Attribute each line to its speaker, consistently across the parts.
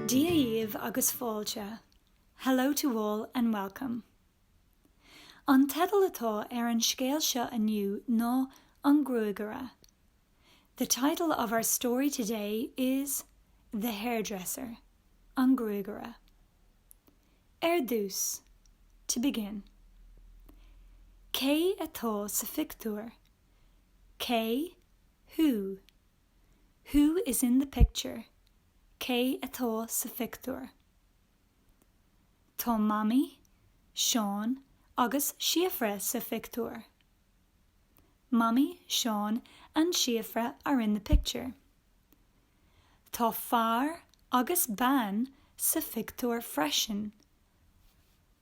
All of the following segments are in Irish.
Speaker 1: Dia dhaoibh agus fáilte, Hello to all and welcome. An teideal atá ar an scéal seo inniu ná An Gruagaire The title of our story today is The Hairdresser, An Gruagaire. Ar dtús, to begin, Cé atá sa phictiúr? Cé? Who? Who is in the picture? Cé atá sa phictiúr? Tá Mamaí, Seán agus Síofra sa phictiúr. Mamaí, Seán and Síofra are in the picture. Tá fear agus bean sa phictiúr freisin.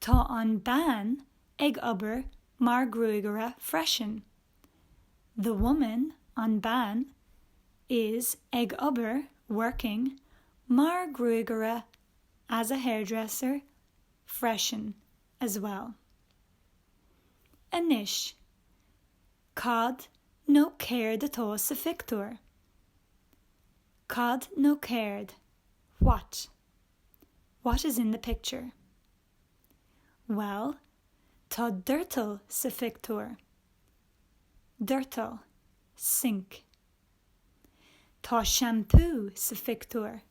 Speaker 1: Tá an bean ag obair mar gruagaire freisin. The woman, an bean, is ag obair, working, mar gruagaire, as a hairdresser, freisin, as well. Anois, cad nó céard atá sa phictiúr? Cad nó céard, what? What is in the picture? Bhuel, tá doirteal sa phictiúr. Doirteal, sink. Tá seampú sa phictiúr.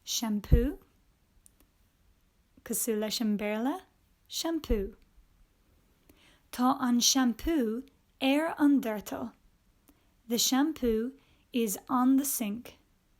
Speaker 1: Seampú? Cosúil leis an Béarla, shampoo. Tá an seampú ar an doirteal. The shampoo is on the sink.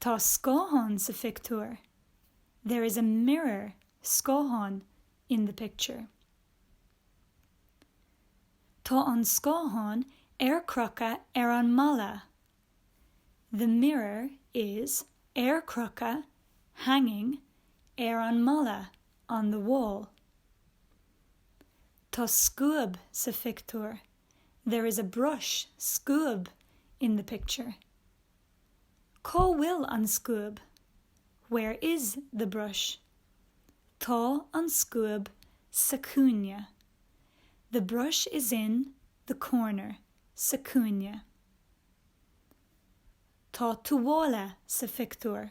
Speaker 1: Tá scáthán sa phictiúr, There is a mirror, scáthán, in the picture. Tá an scáthán ar crochadh ar an mballa, The mirror is ar crochadh, hanging, ar an mballa, on the wall. Tá scuab sa phictiúr. there is a brush, scuab, in the picture. Cá bhfuil an scuab? Where is the brush? Tá an scuab sa chúinne. The brush is in, the corner. sa chúinne. Tá tuáille sa phictiúr.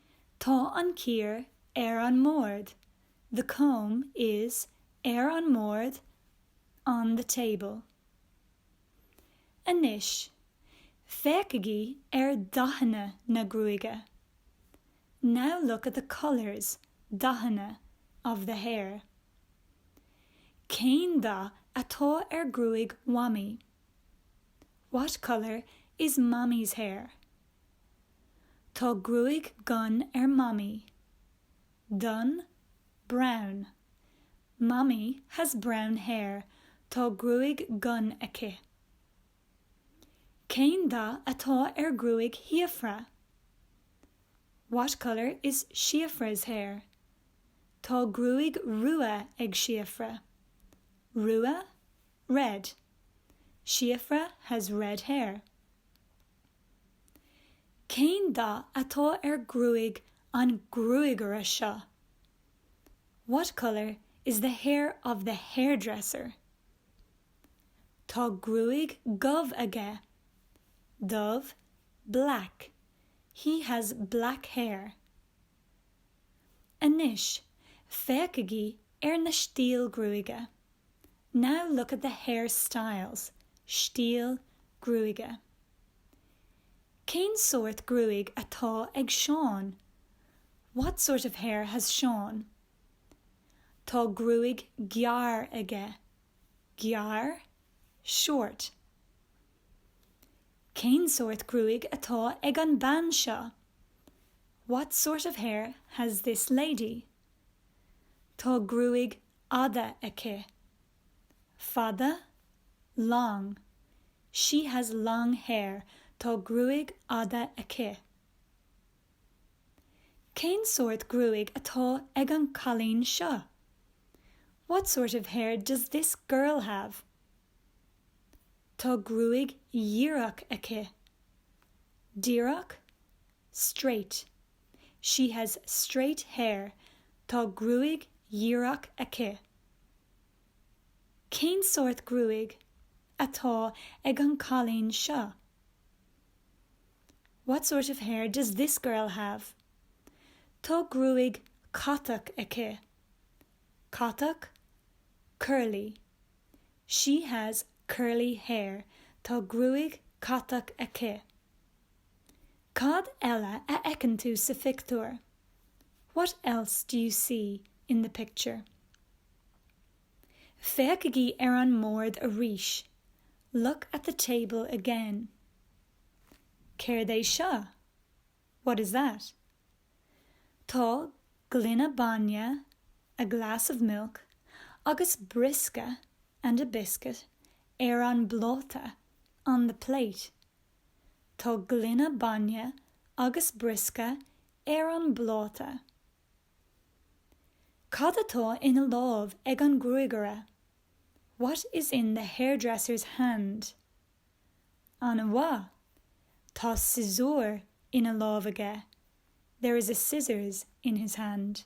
Speaker 1: Tá an chíor ar an mbord, the comb is ar an mbord, on the table. Anois, féachaigí ar dhathanna na gruaige, now look at the colours, dathanna, of the hair. Cén dath atá ar gruaig Mhamaí? What colour is Mammy's hair? Tá gruaig dhonn ar Mamaí. Donn, brown. Mammy has brown hair, tá gruaig dhonn aici. Cén dath atá ar ghruaig Shíofra? What colour is Síofra's hair? Tá gruaig rua ag Síofra. Rua, red. Síofra has red hair. Cén dath atá ar gruaig an gruagaire seo? What colour is the hair of the hairdresser? Tá gruaig dhubh aige. Dubh, black. He has black hair. Anois, féachaigí ar na stíl gruaige. Now look at the hair styles, stíl gruaige. Cén sórt gruaig atá ag Seán? What sort of hair has Seán? Tá gruaig gearr aige. Gearr? Short. Cén sórt gruaig atá ag an bean seo? What sort of hair has this lady? Tá gruaig fhada aici. Fada, long. She has long hair, tá gruaig fhada aici. Cén sórt gruaig atá ag an cailín seo? What sort of hair does this girl have? Tá gruaig dhíreach aici. Díreach, straight. She has straight hair, tá gruaig dhíreach aici. Cén sórt gruaig atá ag an cailín seo? What sort of hair does this girl have? Tá gruaig catach aici. Catach, curly. She has curly hair, tá gruaig catach aici. Cad eile a fheiceann tú sa phictiúr? What else do you see in the picture? Féachaigí ar an mbord arís. Look at the table again. Céard é seo? What is that? Tá gloine bainne, a glass of milk, agus briosca, and a biscuit, ar an bpláta, on the plate. Tá gloine bainne agus briosca ar an bpláta. Cad atá ina láimh ag an gruagaire? What is in the hairdresser's hand? Ana-mhaith! Tá siosúr ina láimh aige. There is a scissors in his hand.